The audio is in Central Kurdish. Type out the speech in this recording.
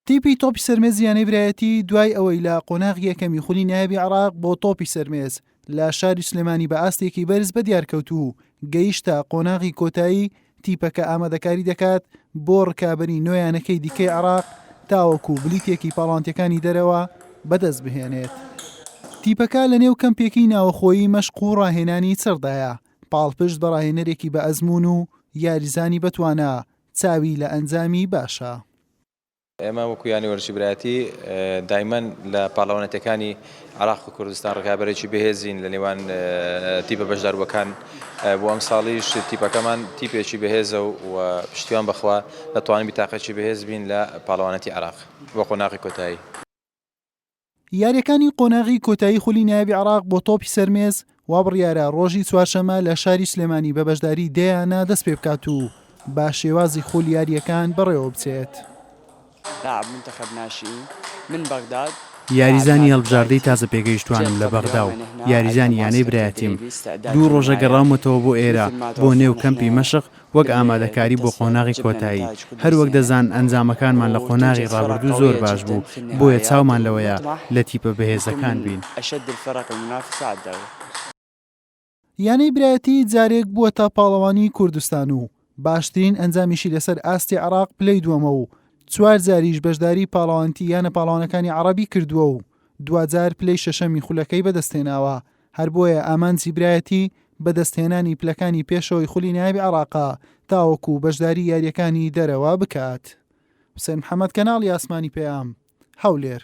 تیپی تۆپی سەرمێزی یانەی برایەتی دوای ئەوەی لە قۆناغی یەکەمی خولی نایبی عراق بۆ تۆپی سەرمێز لە شاری سلێمانی بە ئاستێکی بەرز بە دیارکەوت و گەیشتە قۆناغی کۆتایی تیپەکە ئامادەکاری دەکات بۆ ڕکابی نوێیانەکەی دیکەی عراق تاوەکو بلیتێکی پاڵانتەکانی دەرەوە بەدەست بهێنێت. تیپەکە لە نێو کەمپێکی ناوەخۆیی مەشق و ڕاهێنانی چڕدایە پاڵپشت بە ڕاهێنەرێکی بە ئەزمون و یاریزانی بەتوانە چاوی لە ئەنجامی باشە. ئێمە وەکو یانەی وەرزشی برایەتی دایمەن لە پاڵەوانێتیەکانی عراق و کوردستان ڕکابەرێکی بەهێزین لە نێوان تیپە بەشداربووەکان بۆ ئەم ساڵیش تیپەکەمان تیپێکی بەهێزە و پشتیوان بەخوا دەتوانین بیتاقێکی بەهێز بین لە پاڵەوانێتی عراق بۆ قۆناغی کۆتایی. یارییەکانی قۆناغی کۆتایی خولی نایابی عراق بۆ تۆپی سەرمێز وا بڕیارە ڕۆژی چوارشەمە لە شاری سلێمانی بە بەشداری دەیانە دەست پێ بکات و با شێوازی خولی یارییەکان بەڕێوە بچێت. لاعب منتخب ناشئین من بغداد یاریزانی هەڵبژاردەی تازە پێگەیشتووانم لە بەغدا و یاریزانی یانەی برایەتیم، دوو ڕۆژە گەڕاومەتەوە بۆ ئێرە بۆ نێو کەمپی مەشق وەک ئامادەکاری بۆ قۆناغی کۆتایی. هەر وەک دەزان ئەنجامەکانمان لە قۆناغی ڕابردوو زۆر باش بوو، بۆیە چاومان لەوەیە لە تیپە بەهێزەکان بین. یانەی برایەتی جارێک بووەتە پاڵەوانی کوردستان و باشترین ئەنجامیشی لەسەر ئاستی عێراق پلەی دووەمە و چوار جاریش بەشداری پاڵەوانتی یانە پاڵەوانەکانی عەڕەبی کردووە و دواجار پلەی شەشەمی خولەکەی بەدەستهێناوە. هەر بۆیە ئامانجی برایەتی بەدەستهێنانی پلەکانی پێشەوەی خولی نایب عێراقە تاوەکو بەشداری یارییەکانی دەرەوە بکات. حوسێن محەمەد کەناڵی ئاسمانی پەیام، هەولێر.